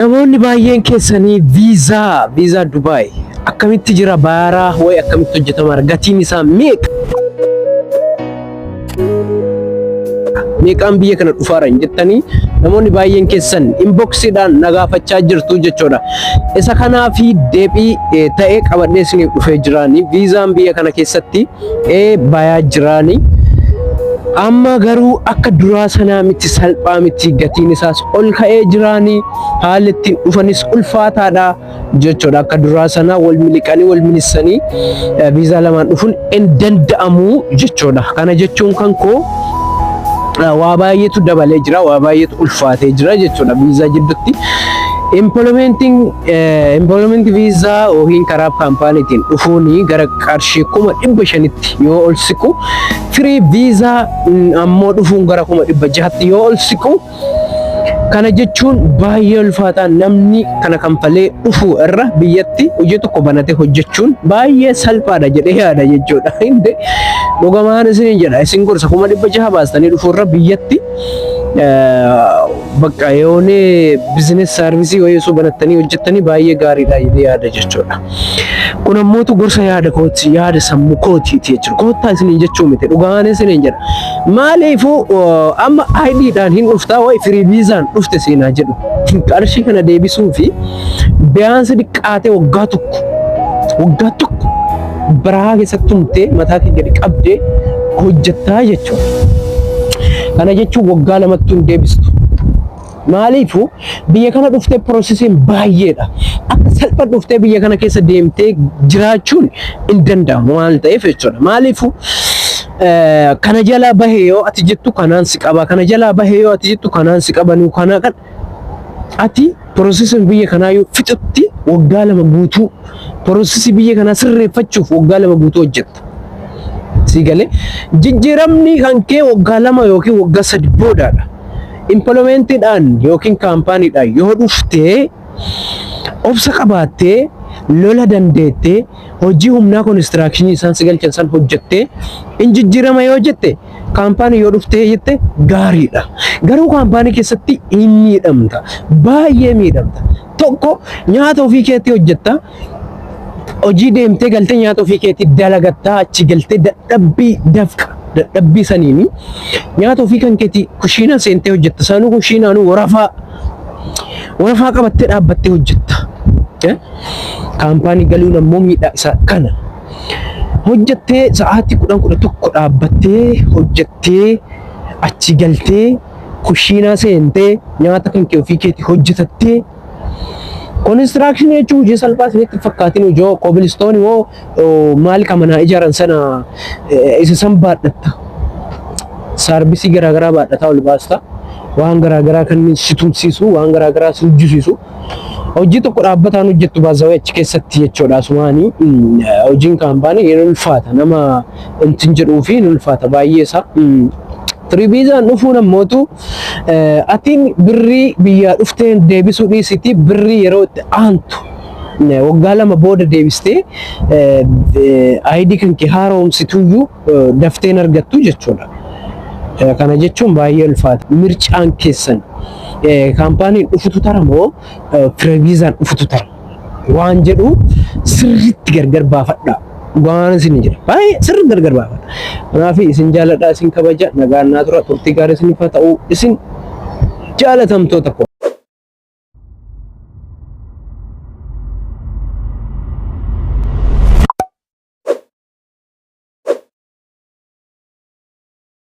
Namoonni baay'een keessanii viizaa viizaa Dubai akkamitti jira baaraa way akkamitti hojjetamaara gatiin isaa meeqa? Meeqaan biyya kana dhufaara hin jettanii namoonni baay'een keessan inboksiidhaan nagaafachaa jirtu jechuudha. Isa kanaa fi deebii ta'ee qabadhee isiniif dhufee jiraanii viizaan biyya kana keessatti ee bayaa jiraani amma garuu akka duraa sanaa miti salphaa miti gatiin isaas ol ka'ee jiraani haalli ittiin dhufanis ulfaataadha jechuudha akka duraa sanaa wal miliqanii wal minissanii eh, viizaa lamaan dhufuun hin danda'amu jechuudha kana jechuun kan koo eh, waa baay'eetu dabalee jira waa baay'eetu ulfaatee jira jechuudha viizaa jidduutti Implementing, eh, implement visa yookiin karaa kaampaaniitiin dhufuun gara qarshii kuma dhibba shanitti yoo ol siqu firii viizaa ammoo dhufuun gara kuma dhibba jahatti yoo ol siqu kana jechuun baay'ee ulfaataa namni kana kanfalee dhufu irra biyyatti hojii tokko banatee hojjechuun baay'ee salphaadha jedhee yaada jechuudha. Hinde dhugamaan isin jedha isin gorsa kuma dhibba jaha baastanii dhufu irra biyyatti Bakka yoone bizinees saarvisii wayii osoo banattanii hojjettanii baay'ee gaariidha jedhee yaada jechuudha. Kun ammootu gorsa yaada kooti yaada sammuu kootiiti jechuudha. Koottaa isiniin jechuu miti dhugaan isiniin jedha. Maaliifuu uh, amma ayidiidhaan hin dhuftaa wayi firii viizaan dhufte seenaa jedhu. Qarshii kana deebisuu fi biyyaansi diqqaatee waggaa tokko waggaa tokko barahaa keessatti tumtee mataa kee gadi qabdee hojjettaa jechuudha. Kana jechuun waggaa lamatti hin deebistu. Maaliifu biyya kana dhuftee piroosesiin baay'eedha. Akka salpha dhuftee biyya kana keessa deemtee jiraachuun hin danda'amu waan ta'eef jechuudha. Maaliifu eh, kana jalaa bahee yoo ati jettu kanaan si qaba, kana jalaa bahee yoo ati jettu kanaan si qaba, nu kanaa kan Ati piroosesii biyya kanaa yoo fixutti waggaa lama guutuu piroosesii biyya kanaa sirreeffachuuf waggaa lama guutuu hojjetta. Sii galee jijjiiramni kan kee waggaa lama yookiin waggaa sadi boodaadha. Impiloomeentiidhaan yookiin kaampaaniidhaan yoo dhuftee obsa qabaattee lola dandeettee hojii humnaa konistiraakshinii isaan si galchan san hojjettee in jijjiirama yoo jette kaampaanii yoo dhuftee jette gaariidha. Garuu kaampaanii keessatti hin miidhamta. Baay'ee miidhamta. Tokko nyaata ofii keetti hojjetta. Hojii deemtee galtee nyaata ofii keetti dalagattaa achi galtee dadhabbii dafqa dadhabbii saniini nyaata ofii kan keetti kushiinaa seentee hojjetta. Saanuu kushiinaanuu warafaa warafaa qabattee dhaabbattee hojjetta. Eh? Kaampaanii galuun ammoo miidhaa isaa kana. Hojjattee sa'aatii kudhan kudha tokko dhaabbattee hojjattee achi galtee kushiinaa seentee nyaata kan kee ofii keetii hojjetattee Konistiraakshinii jechuun hojii salphaa isinitti hin fakkaatin hojii hoo kobilistooni hoo oo, maal ka manaa ijaaran sana eh, isa san baadhatta. Saarbisii garaagaraa baadhataa ol baasta. Waan garaagaraa kan si tumsiisu, waan garaagaraa si hojjisiisu. Hojii tokko dhaabbataan hojjettu baazawee achi keessatti jechuudha. Asumaanii mm, hojiin kaampaanii hin ulfaata. Nama intin jedhuu fi hin ulfaata baay'ee isaa. Mm. Tiribiizaan dhufuun ammootu eh, atiin birrii biyyaa dhufteen deebisuu dhiisiti birrii yeroo itti aantu eh, waggaa lama booda deebistee eh, eh, ayidii kan kee haaromsituyyuu eh, dafteen argattu jechuudha. Eh, Kana jechuun baay'ee ulfaata. Mircaan keessan kaampaaniin dhufutu tara moo fireviizaan dhufutu tara waan jedhu sirriitti gargar baafadha. Dhugaan isin jedha. Baay'ee sirriitti gargar baafadha. Kanaaf isin jaaladha, isin kabaja, nagaan naa tura, turtii gaarii isiniif haa ta'u, isin jaalatamtoota koo.